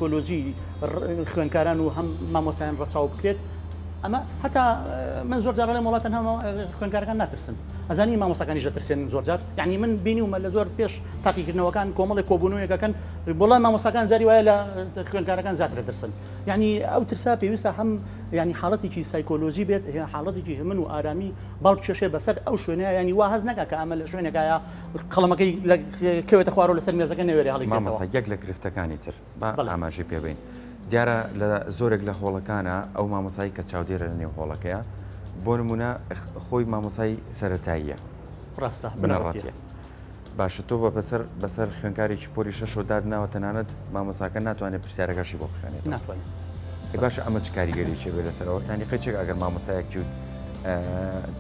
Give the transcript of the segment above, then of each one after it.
کۆلۆژی خوێنکاران و هەم مامۆستایان ڕەچاو بکرێت ئەمە هەتا من زۆر جارڵێ وڵات تەنها خوێنکارەکان ناترسن ئەزانی مامۆستاکانی دەترسێن زۆر جار یعنی من بینی ومە لە زۆر پێش تاقیکردنەوەکان کۆمەڵی کۆبوونەوەکەکەن بڵێ مامۆستاکان جاری وایە لە خوێنکارەکان زیاتر دەترسن یعنی ئەو ترسا پێویستە هەم ینی حاڵەتێکی سایکۆلۆژی بێت حاڵەتێکی هەمن و ئارامی باڵ کێشێ بەسەر ئەو شوێنە ینی وا هەز نەکە کە ئەمە لە شوێنەکەە قەڵەمەکەی کەوێتە خوارەوە لەسەر مێزەکە نەوێرێ هەڵی مامەسا یەک لە گرفتەکانی تر با ئاماژەی پێ بین دیارە لە زۆرێک لە هۆڵەکانە ئەو مامەسایی کە چاودێرە لە نێو هۆڵەکەیە بۆ نمونە خۆی مامەسایی سەتاییە ڕاستە بنەڕاتە باشە تۆ بە بەسەر بەسەر خوێنکارێکی پۆری شەشۆ دادناوە تەنانەت مامەساکە ناتوانێت پرسیارەکەشی بۆ بخێنێت ناتوانێت باش ئەمە چ کاریگەریی بێ لەسەرەوە ینی قەچێک ئەگەر مامەسایەکی و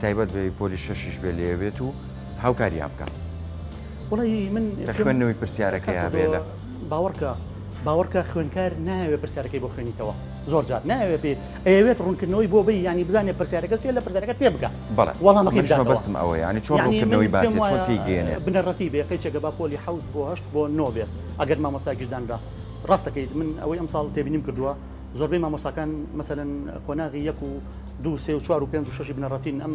تایبەت بێ پۆلی شەشیش بێ لێبێت و هاوکاریان بکە وڵی من خوێندنەوەی پرسیارەکەیان بێ لە باوەڕکە باوەڕکە خوێنکار ناوێ پرسیارەکەی بۆ خوێنیتەوە زۆر جار ناوێ پێ ئەوێت ڕوونکردنەوەی بۆ بی ینی بزانێ پرسیارەکە چێ لە پرسیارەکە تێ بگە بەڵێ وەڵامەکەی بەستم ئەوە ینی چۆن ڕوونکردنەوەی باێ چۆن تێگەێنێ بنەڕەتی بێ قەیچێکە با پۆلی حوت بۆ هەشت بۆ نۆ بێ ئەگەر مامۆستاگیردان بە ڕاستەکەیت من ئەوەی ئەم ساڵ تێبینیم کردووە زۆربەی مامۆساکان مەسەن قۆناغی یەک و دو سێ و چوار و پێ و شش بنەڕەتین ئەم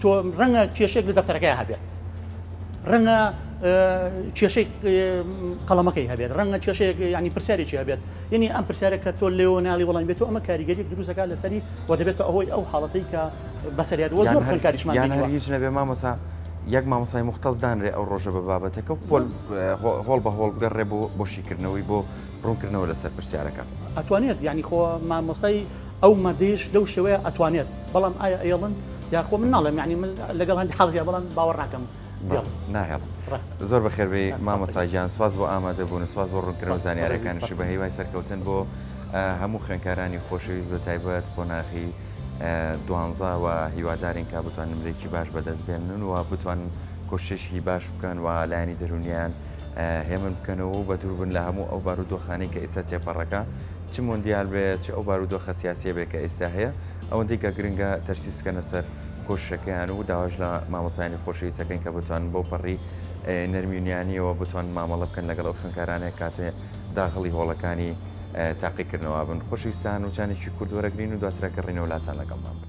تۆ ڕەنگە کێشێک لە دەفتەرەکەی هەبێت ڕەنگە کێشەی قەڵەمەکەی هەبێت ڕەنگە کێشەیەک ینی پرسیارێکی هەبێت یعنی ئەم پرسیارەکە تۆ لێو ناڵی وڵام بێت و ئەمە کاریگەری دروستەکە لەسەری و دەبێتە ئەوەی ئەو حاڵەتی کە بەسەریات وە زۆر کاریشمان هیچ نەبێ مامەسا یەک مامەسای مختەز دانرێ ئەو ڕۆژە بە بابەتەکە و پۆل هۆڵ بە هۆڵ بگەڕێ بۆ بۆشیکردنەوەی بۆ ڕوونکردنەوە لەسەر پرسیارەکە ئەتوانێت ینی خۆ مامۆستای ئەو مەردەیش لەو شێوەیە ئەتوانێت بەڵام ئایا ئەیڵن یاخۆ من ناڵێم یعنی من لەگەڵ هەندی حاڵەتیا بەڵام باوەڕ ناکەم ناهێڵن زۆر بەخێربێ مامەساگیان سواز بۆ ئامادە بوون سواز بۆ ڕوونکردنەوە زانیارەکانشی بە هیوای سەرکەوتن بۆ هەموو خوێنکارانی خۆشەویست بە تایبەت قۆناغی دوانزاوە هیوادارین کا بتوان نمرێکی باش بەدەست بێنن و بتوان کۆشتێکی باش بکەن و لایانی دەرونیان هێمن بکەنەوە و بە دوور بن لە هەموو ئەو بارودۆخانی کە ئێستا تێپەڕەکە چ مۆندیال بێ چ ئەو بارودۆخە سیاسیە بێ کە ئێستا هەیە ئەوەندەی کە گرنگە تەرکیز بکەنە سەر کۆششەکەیان و داواش لە مامۆستایانی خۆشەویست دەکەین کە بتوانن بەو پەڕی نەرمی و نیانیەوە بتوان مامەڵە بکەن لەگەڵ ئەو خوێنکارانەیە کاتێ داغڵی هۆڵەکانی تاقیکردنەوە بن خۆشەویستان وچانێکی کورت وەرەگرین و دواتر گەڕینەوە لاتان لەگەڵمان بن.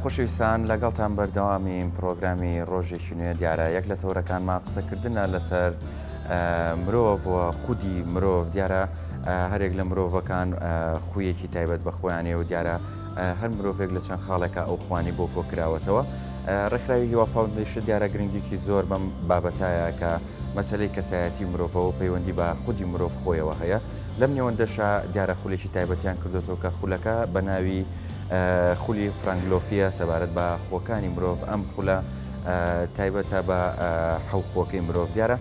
خۆشەویستان لەگەڵتان بەردەوامین پرۆگرامی ڕۆژێکی نوێ دیارە یەک لە تەورەکانمان قسەکردە لەسەر مرۆڤ خودی مرۆڤ دیارە هەرێک لە مرۆڤەکان خویەکی تایبەت بە خۆیانێ و دیارە هەر مرۆڤێک لە چەند خاڵێکە ئەو خوانی بۆ کۆکراوەتەوە ڕێکخراوی هیوا فاونندیش دیارە گرنگیکی زۆر بەم بابەتایە کە مەسەلەی کەسایەتی مرۆڤەوە پەیوەندی بە خودی مرۆڤ خۆیەوە هەیە لەم نێوەندەشا دیارە خولێکی تایبەتیان کردوێتەوە کە خولەکە بە ناوی خولی فرانگلۆفیە سەبارەت بە خۆکانی مرۆڤ ئەم خولە تایبەتە بە حەوخۆکەی مرۆڤ دیارە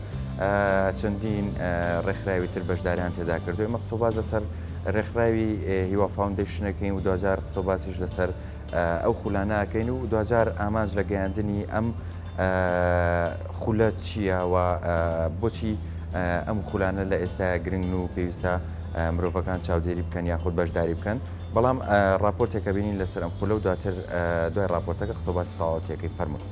چەندین ڕێکخراوی تر بەشداریان تێدا کردو ئمە قسە باز لەسەر ڕێکخراوی هیوا فاونندەشنەکەین و دوجار قسە باسیش لەسەر ئەو خولانە ئەکەین و دواجار ئامانج لە گەیاندنی ئەم خولە چییە و بۆچی ئەم خولانە لە ئێستا گرنگن و پێویستە مرۆڤەکان چاودێری بکەن یاخود بەشداری بکەن بەڵام راپۆرتێکە بینین لەسەر ئەم خولە و دواتر دوای راپۆرتەکە قسە باسی تەواوەتەکەی فەرمونون.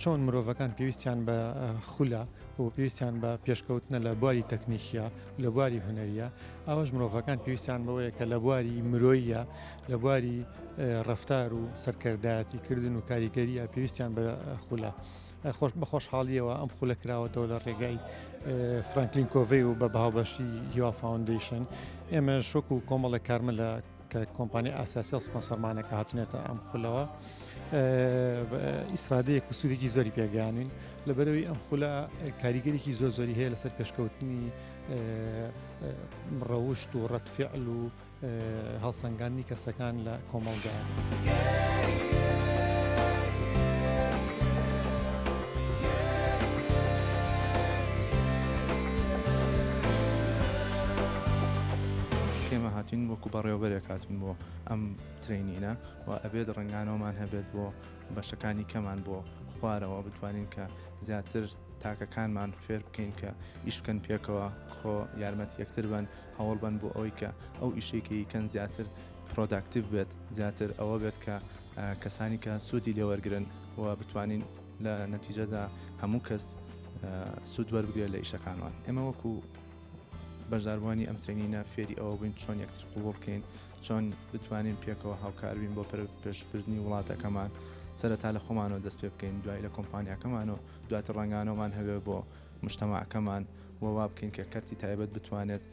چۆن مرۆڤەکان پێویستیان بە خولە و پێویستیان بە پێشکەوتنە لە بواری تەکنیکیە لە بواری هوەریە ئەوەش مرۆڤەکان پێویستیان بەوەیە کە لە بواری مرۆیە لە بواری ڕفتار و سەرکردایەتی کردن و کاریگەریە پێویستیان بە خولە. خۆش بە خۆشحاڵیەوە ئەم خولە کراوەتەوە لە ڕێگای فرانکلین کۆڤی و بە باوبەشی هیوا فاونندیشن ئێمە شوک و کۆمەڵە کارمە لە کە کۆمپانیا ئاسیاسیل سپۆنسەرمانە کە هاتونێتە ئەم خولەوە ئیسفادەیەک و سوودێکی زۆری پێگەیانین لە بەرەوەی ئەم خولە کاریگەرێکی زۆر زۆری هەیە لەسەر پێشکەوتنی ڕەوشت و ڕەتفعل و هەڵسەنگاندنی کەسەکان لە کۆمەڵدا. تین وەکو بەڕێوەبەرێک هاتوین بۆ ئەم ترەینینە و ئەبێت ڕەنگانەوەمان هەبێت بۆ بەشەکانی کەمان بۆ خوارەوە بتوانین کە زیاتر تاکەکانمان فێر بکەین کە ئیش بکەن پێکەوە خۆ یارمەتی یەکتر بن هەوڵ بن بۆ ئەوەی کە ئەو ئیشەی کە یکەن زیاتر پرۆداکتیڤ بێت زیاتر ئەوە بێت کە ئە کەسانی کە سوودی لێوەرگرن و بتوانین لە نەتیجەدا هەموو کەس ئە سوود وەربگرێت لە ئیشەکانمان ئێمە وەکو بەشداربووانی ئەم ترەینینە فێری ئەوە بووین چۆن یەکتر قبوڵ بکەین، چۆن بتوانین پێکەوە هاوکار بین بۆ پێشبردنی وڵاتەکەمان، سەرەتا لە خۆمانەوە دەست پێ بکەین، دوای لە کۆمپانیاکەمان و دواتر ڕەنگانەوەمان هەبێ بۆ مشتەماعەکەمان و وا بکەین کە کەرتی تایبەت بتوانێت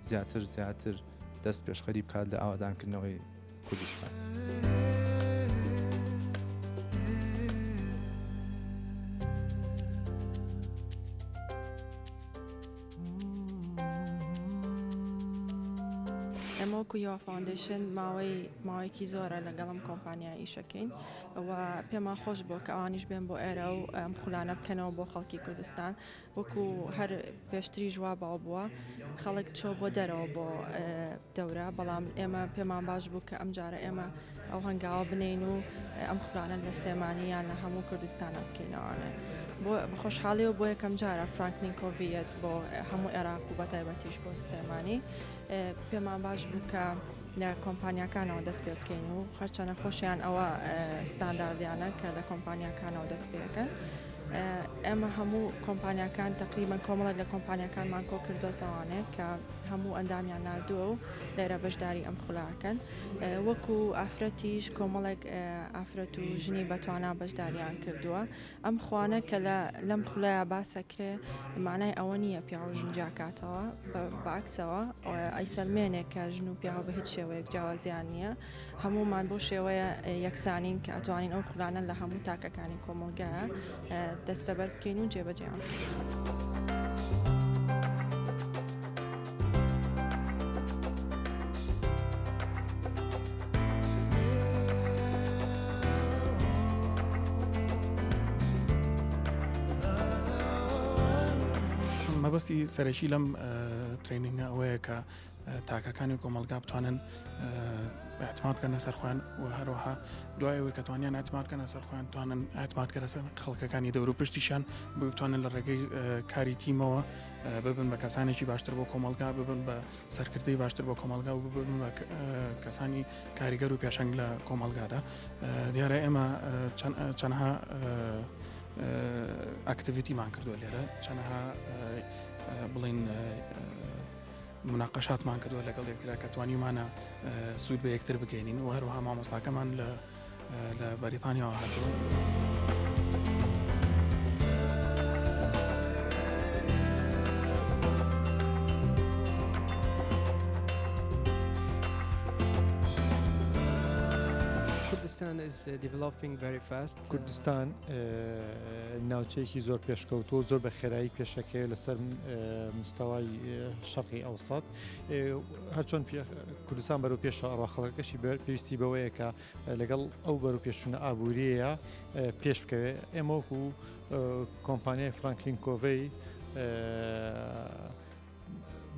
زیاتر زیاتر دەست پێشخەری بکات لە ئاوەدانکردنەوەی کوردستان. ئێمە وەکو یۆ فاوندەیشن ماوەی ماوەیەکی زۆرە لەگەڵ ئەم کۆمپانیا ئیشەکەین و پێمان خۆش بۆ کە ئەوانیش بێن بۆ ئێرە و ئەم خولانە بکەنەوە بۆ خەڵکی کوردستان وەکو هەر پێشتری ژوا باو بووە خەڵک چۆ بۆ دەرەوە بۆ دەورە، بەڵام ئێمە پێمان باش بوو کە ئەمجارە ئێمە ئەو هەنگاوە بنێین و ئەم خولانە لە سلێمانی یان لە هەموو کوردستانە بکەینەوانێ بۆ بەخۆشحاڵی و بۆ یەکەم جارە فرانکلین کۆڤەت بۆ هەموو عێراق و بەتایبەتیش بۆ سلێمانی پێمان باش بوو کە لە کۆمپانیاکانەوە دەست پێ بکەین و خەرچەنە خۆشیان ئەوە ستانداردیانە کە لە کۆمپانیاکانەوە دەست پێەکەن ئێمە هەموو کۆمپانیاکان تقریبان کۆمەڵە لە کۆمپانیەکانمان کۆ کردۆزەوانێ کە هەموو ئەندامیان ناردووە و لێرە بەشداری ئەم خولە ئەکەن وەکو ئافرەتیش کۆمەڵێک ئافرەت و ژنی بەتوانا بەشداریان کردووە ئەم خوانە کە لە لەم خولەیە باسەکرێ مانای ئەوە نییە پیاو ژن جاکاتەوە باکسەوە ئەیسەلمێنێک کە ژن و پیاو بە هیچ شێوەیەک جیاوازیان نییە هەموومان بەو شێوەیە یەکسانین کە ئەتوانین ئەو خولانە لە هەموو تاکەکانی کۆمەڵگە دەستەبەر بکەین و جێبەجێیان بکەین. مەبەستی سەرەکی لەم ترینینگە ئەوەیە کە تاکەکانی کۆمەلگا بتوانن اعتماد بکەنە سەر خۆیان و هەروەها دوای ئەوەی کە توانیان اعتماد بکەنە سەر خۆیان توانن اعتماد کە لەسەر خەڵکەکانی دەور و پشتیشان بۆ بتوانن لە ڕێگەی کاری تیمەوە ببن بە کەسانێکی باشتر بۆ کۆمەلگا ببن بە سەرکردەی باشتر بۆ کۆمەلگا و ببن بە کەسانی کاریگەر و پێشنگ لە کۆمەلگادا دیارە ئێمە چەندها ئەکتیویتیمان کردووە لێرە چەندها بڵین مناقەشاتمان کردووە لەگەڵ یەکترا کە توانیمانە سوود بە یەکتر بگەینین و هەروەها مامۆستاکەمان لە لە بەریتانیاوە هاتووە. Pakistan is developing very fast. کوردستان ناوچەیەکی زۆر پێشکەوتوە و زۆر بە خێرایی پێشەکەوێت لەسەر مستەوای شەقی ئەوسات هەرچۆن کوردستان بەرەو پێشە ئەڕ خەڵەکەشی پێویستی بەوەیە کە لەگەڵ ئەو بەرەو پێشونە ئابووریەیە پێش بکەوێت ئێمەوەکو کۆمپانیای فرانکلین کۆڤەی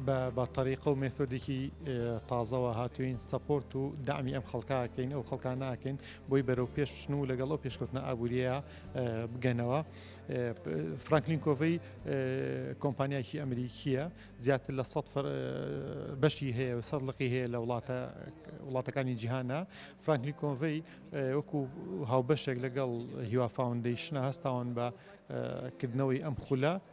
بە تەریقە و مێثۆدێکی تازەوە هاتوین سەپۆرت و دامی ئەم خەڵکاکەین ئەو خەڵکانناکەین بۆی بەرەو پێش بچن و لەگەڵ ئەو پێشکەوتنە ئابووریە بگەنەوە فرانکلین کۆڤی کۆمپانیاکی ئەمریکیە زیاتر لە سە بەشی هەیە و سەر لقی هەیە لە وڵاتە وڵاتەکانی جیهانە فرانکلی کۆڤی وەکو هاوبەشێک لەگەڵ هیوا فاونندەیشنە هەستاون بە کردنەوەی ئەم خولە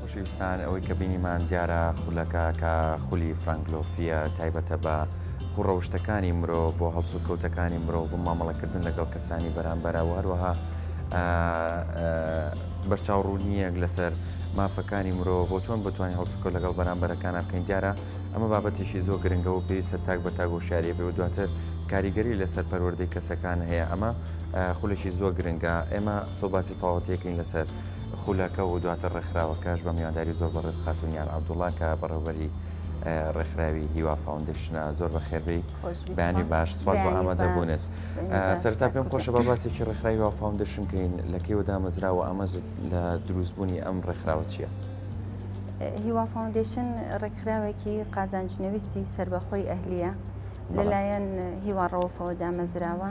خۆشەویستان ئەوەی کە بینیمان دیارە خولەکە کە خولی فرەنگلۆفیە تایبەتە بە خوڕەوشتەکانی مرۆ بۆ هەڵسو کەوتەکانی مرۆ بۆ مامەڵەکردن لەگەڵ کەسانی بەرامبەرە وهروەها بەرچاوڕوونیەک لەسەر مافەکانی مرۆ بۆ چۆن بتوانین هەڵسوکە لەگەڵ بەرامبەرەکانە بکەین دیارە ئەمە بابەتێکی زۆ گرنگە و پێویستە تاک بە تاگۆشاریە بێ و دواتر کاریگەری لەسەر پەروەردەی کەسەکان هەیە ئەمە خولێکی زۆ گرنگە ئێمە سەو باسی تەواوەتی ئەکەین لەسەر خولەکە و دواتر ڕێکخراوەکەش بە میوانداری زۆر بەڕێز خاتون یان عەبدوڵڵا کە بەڕێوەبەری ڕێکخراوی هیوا فاوندیشنە زۆر بە خێربی بەیانی باش سپاس بە ئامادە بوونێت سەرتا پێم خۆشە بە باسێکی ڕێکخراوی وا فاوندیشن کەین لە کێوە دامەزرا و ئامەز لە دروستبوونی ئەم ڕێکخراوە چییە؟ هیوا فاوندیشن ڕێکخراوێکی قازانجنەویستی سربەخۆی ئەهلیە لەلایەن هیواڕەوەفەوە دامەزراوە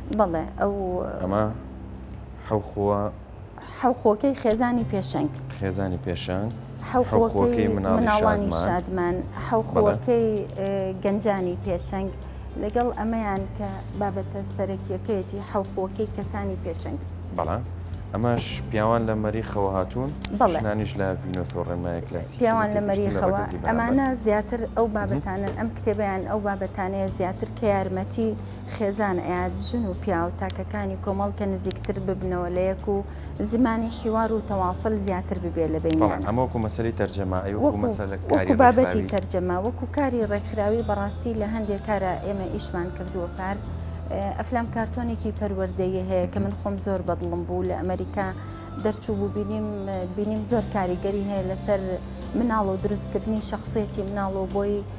بەڵێ ئەو ئەمە حەوخووە حەوخۆکەی خێزانی پێشەنگ خێزانی پێشەنگ حەوخۆکەی مناڵانی شادمان حەوخۆکەی گەنجانی پێشەنگ لەگەڵ ئەمەیان کە بابەتە سەرەکیەکەیەتی حەوخۆکەی کەسانی پێشەنگ بەڵا ئەمەش پیاوان لە مەریخەوە هاتوون بەڵێنانیش لە ڤینۆسەوە ڕێنمایە کلاسی پیاوان لە مەریخەوە ئەمانە زیاتر ئەو بابەتانن ئەم کتێبیان ئەو بابەتانەیە زیاتر کە یارمەتی خێزان ئەیات ژن و پیاو تاکەکانی کۆمەڵ کە نزیکتر ببنەوە لە یەک و زمانی حیوار و تەواسل زیاتر ببێ لە بەینیان. ئەمە وەکو مەسەلی تەرجەمە ئەی وەکو مەسەلە کاری ڕێکخراوی؟ وەکو بابەتی تەرجەمە وەکو کاری ڕێکخراوی بەڕاستی لە هەندێ کارا ئێمە ئیشمان کردووە پار ئەفلام کارتۆنێکی پەروەردەیی هەیە کە من خۆم زۆر بەدڵم بوو لە ئەمریکا دەرچوو بوو بینیم بینیم زۆر کاریگەری هەیە لەسەر مناڵ و دروستکردنی شخصێتی مناڵ و بۆی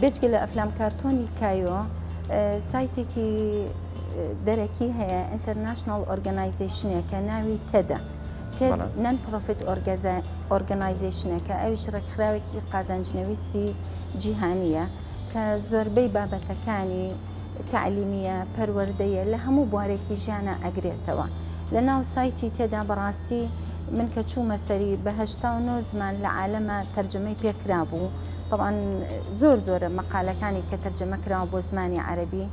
بێجگە لە ئەفلام کارتۆنی کایۆ سایتێکی دەرەکی هەیە ئینتەرناشنال ئۆرگەنایزیشنێکە ناوی تەدە نەن پرۆفیت ئۆرگەنایزیشنەکە ئەوش ڕێکخراوێکی قازانجنەویستی جیهانیە کە زۆربەی بابەتەکانی تعلیمیە پەروەردەیە لە هەموو بوارێکی ژیانە ئەگرێتەوە لە ناو سایتی تێدا بەڕاستی من کە چوومە سەری بەهشتا و نۆ زمان لە عالەمە تەرجەمەی پێکرا بوو تەبعەن زۆر زۆرە مەقالەکانی کە تەرجەمە کراوە بۆ زمانی عەرەبی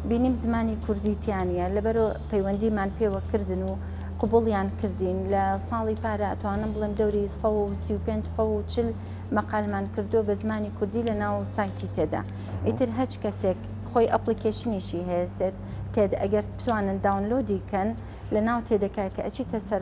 بینیم زمانی کوردی تیانە لەبەر پەیوەندیمان پێوە کردن و قوبڵیان کردین لە ساڵی پارە ئەتوانم بڵێم دەوری 1940 مەقالمان کردو بە زمانی کوردی لە ناو سایتی تێدا ئیتر هەچ کەسێک خۆی ئەپلیکیشنیشی هەیەسێت تێد ئەگەر بتوانن داونلۆدی کەن لە ناو تێدەکای کە ئەچیتە سەر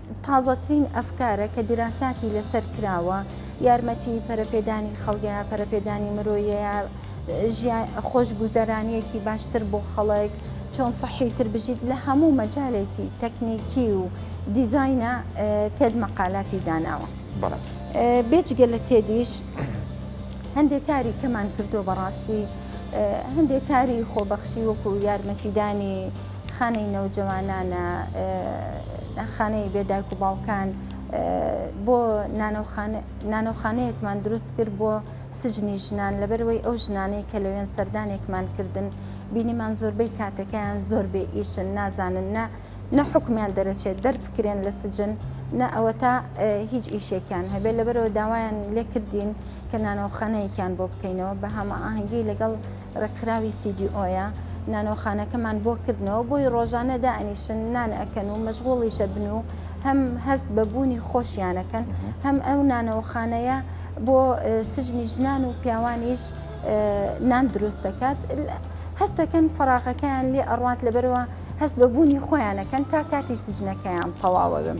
تازەترین ئەفکارە کە دیراساتی لەسەر کراوە یارمەتی پەرەپێدانی خەڵگە پەرەپێدانی مرۆیەیە خۆشگوزەرانیەکی باشتر بۆ خەڵک چۆن سەحی تر بژیت لە هەموو مەجالێکی تەکنیکی و دیزینە تێد مەقالاتی داناوە بێجگە لە تێدیش هەندێک کاری کەمان کردو بەڕاستی هەندێک کاری خۆبەخشی وەکو یارمەتیدانی خانەی نەوجەوانان، خانەی بێ دایک و باوکان، بۆ نانەوخانەیەکمان دروست کرد بۆ سجنی ژنان، لەبەرئەوەی ئەو ژنانەی کە لەوێن سەردانێکمان کردن بینیمان زۆربەی کاتەکەیان زۆر بێ ئیشن نازانن نە نە حکومیان دەرەچێت دەربکرێن لە سجن نە ئەوەتا هیچ ئیشێکیان هەبێت لەبەرەوە داوایان لێکردین کە نانەوەخانەیەکیان بۆ بکەینەوە بە هەمە ئاهەنگی لەگەڵ ڕێکخراوی CDOیە نانەوەخانەکەمان بۆ کردنەوە بۆی ڕۆژانە دائەنیشن نان ئەکەن و مەشغوڵیشە بن و هەم هەست بە بوونی خۆشیانەکەن هەم ئەو نانەوەخانەیە بۆ سجنی ژنان و پیاوانیش نان دروست دەکات هەستەکەن فراغەکەیان لێ ئەڕوات لەبەرەوە هەست بە بوونی خۆیانەکەن تا کاتی سجنەکەیان تەواوە بم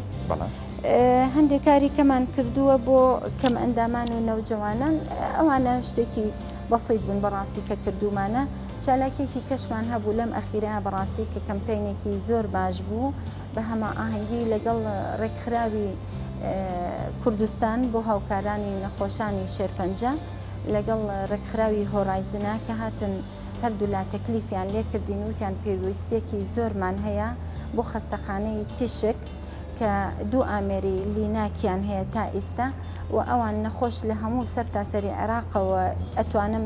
هەندێک کاری کەمان کردووە بۆ کەم ئەندامان و نەوجەوانان ئەوانە شتێکی بەسیت بن بەڕاستی کە کردومانە چالاکیەکی کەشمان هەبوو لەم ئەخیرە بەڕاستی کە کەمپینێکی زۆر باش بوو بە هەما ئاهەنگی لەگەڵ ڕێکخراوی کوردستان بۆ هاوکارانی نەخۆشانی شێرپەنجە لەگەڵ ڕێکخراوی هۆرایزنە کە هاتن هەردوولا تەکلیفیان لێکردین وتیان پێویستێکی زۆرمان هەیە بۆ خەستەخانەی تیشک کە دوو ئامێری لیناکیان هەیە تا ئیستا و ئەوان نەخۆش لە هەموو سەر تاسەری عێراقەوە ئەتوانم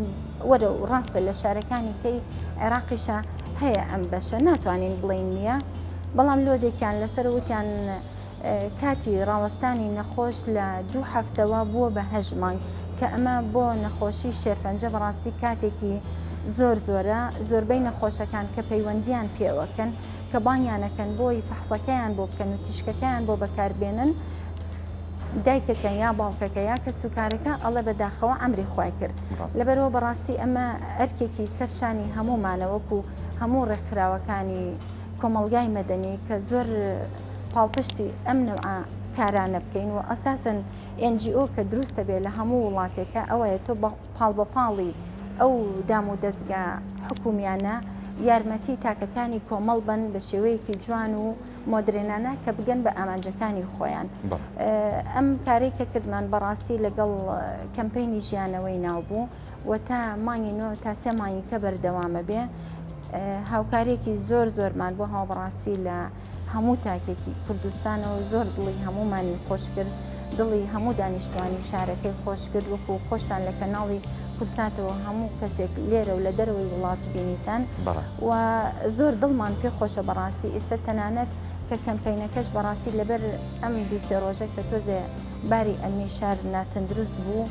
وەرە و ڕاستە لە شارەکانی کەی عێراقیشە هەیە ئەم بەشە ناتوانین بڵین نییە بەڵام لۆدێکیان لەسەر وتیان کاتی ڕاوەستانی نەخۆش لە دوو هەفتەوە بووە بە هەژ مانگ کە ئەمە بۆ نەخۆشی شێرپەنجە بەڕاستی کاتێکی زۆر زۆرە زۆربەی نەخۆشەکان کە پەیوەندیان پێوەکەن کە بانگیان ئەکەن بۆی فەحسەکەیان بۆ بکەن و تیشکەکەیان بۆ بەکاربێنن دایکەکە یا باوکەکە یا کە سوکارەکە ئەڵە بەداخەوە ئەمری خی کرد لەبەرەوە بەڕاستی ئەمە ئەرکێکی سەرشانی هەمومانەوەک و هەموو ڕێکخراوەکانی کۆمەلگای مەدەنی کە زۆر پاڵپشتی ئەم نەوە کارانە بکەین و ئەساسن NGO کە دروستە بێ لە هەموو وڵاتێکە ئەوەیە تۆ پاڵبەپاڵی ئەو دام و دەزگا حکومیانە یارمەتی تاکەکانی کۆمەڵ بن بە شێوەیەکی جوان و مۆدرێنانە کە بگەن بە ئامانجەکانی خۆیان ئەم کاری کە کردمان بەڕاستی لەگەڵ کەمپینی ژیانەوەی ناو بوو و تا مانگی نۆ تا سێ مانگی کە بەردەوامە بێ هاوکارێکی زۆر زۆرمان بۆ هاوبڕاستی لە هەموو تاکێکی کوردستانەوە زۆر دڵی هەمومانی خۆشکرد دڵی هەموو دانیشتوانی شارەکەی خۆشکرد وەکو خۆشتان لە کەناڵی کورساتەوە هەموو کەسێک لێرە و لە دەرەوەی وڵات بینیتان و زۆر دڵمان پێ خۆشە بەڕاستی ئێستا تەنانەت کە کەمپینەکەش بەڕاستی لەبەر ئەم دووسێ ڕۆژە کە تۆزێ باری ئەمنی شار ناتەندروست بوو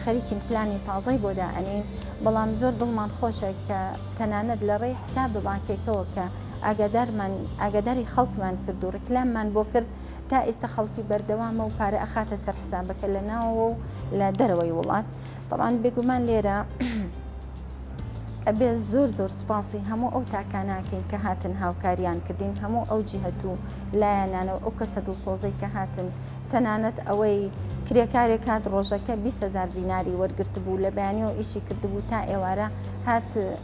خەریکین پلانی تازای بۆ دائەنین بەڵام زۆر دڵمان خۆشە کە تەنانەت لە ڕێی حساب بانکێکەوە کە ئاگادارمان ئاگاداری خەڵکمان کرد و ڕیکلاممان بۆ کرد تا ئێستا خەڵکی بەردەوامە و پارە ئەخاتە سەر حسابەکە لە ناوەوە و لە دەرەوەی وڵات بەڵام بێگومان لێرە ئەبێ زۆر زۆر سپاسی هەموو ئەو تاکاناکەین کە هاتن هاوکاریان کردین هەموو ئەو جیهت و لایەنانە و ئەو کەسە دڵسۆزەی کە هاتن تەنانەت ئەوەی کرێکارێک هات ڕۆژەکە 20هزار دیناری وەرگرت بوو لە بەیانەوە ئیشی کردبوو تا ئێوارە هات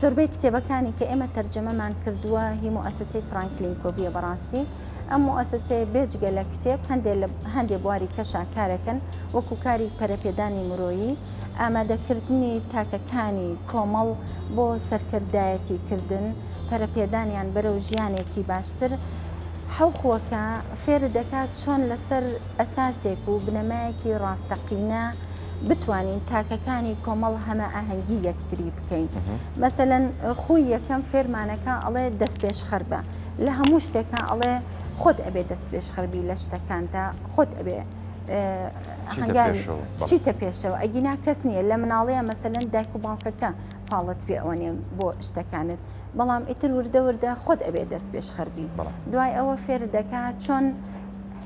زۆربەی کتێبەکانی کە ئێمە تەرجەمەمان کردووە هی موسسەی فرانکلین کۆڤە بەڕاستی ئەم موسسەیە بێجگە لە کتێب هەندێ بواری کەشا کارەکەن وەکو کاری پەرەپێدانی مرۆیی ئامادەکردنی تاکەکانی کۆمەڵ بۆ سەرکردایەتی کردن پەرەپێدانیان بەرەو ژیانێکی باشتر حەوخوەکە فێر دەکات چۆن لەسەر ئەساسێک و بنەمایەکی ڕاستەقینە بتوانین تاکەکانی کۆمەڵ هەمە ئاهەنگی یەکتری بکەین مەسەەن خوی یەکەم فێرمانەکە ئەڵێ دەست پێش خەر بە لە هەموو شتێکە ئەڵێ خۆت ئەبێ دەست پێش خەربی لە شتەکاندا خۆت ئەبێ چیتە پێشەوە ئەگینا کەس نییە لە مناڵەیە مەسەن دایک و باوکەکە پاڵت پێ ئەوەنێن بۆ شتەکانت بەڵام ئیتر وردە وردە خۆت ئەبێ دەست پێش خەربی دوای ئەوە فێر دەکات چۆن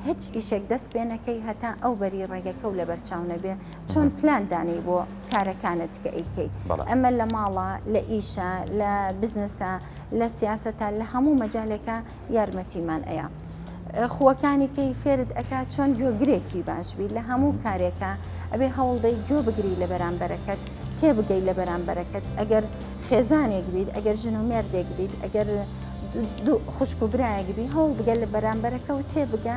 هیچ ئیشێک دەست پێ نەکەی هەتا ئەو بەری ڕێگەکە و لەبەر چاو نەبێ چۆن پلان دانەی بۆ کارەکانت کە ئەیکەیت ئەمە لە ماڵە لە ئیشە لە بزنسە لە سیاستە لە هەموو مەجالێکە یارمەتیمان ئەیە خوەکانی کەی فێرت ئەک چۆن گوێگرێکی باشبی لە هەموو کارێکە ئەبێ هەوڵدەی گوێ بگری لە بەرامبەرەکەت تێبگەی لە بەرامبەرەکەت ئەگەر خێزانێک بیت ئەگەر ژن و مێردێک بیت ئەگەر خوشک و برایەک بی هەوڵ بگەل لە بەرامبەرەکە و تێبگە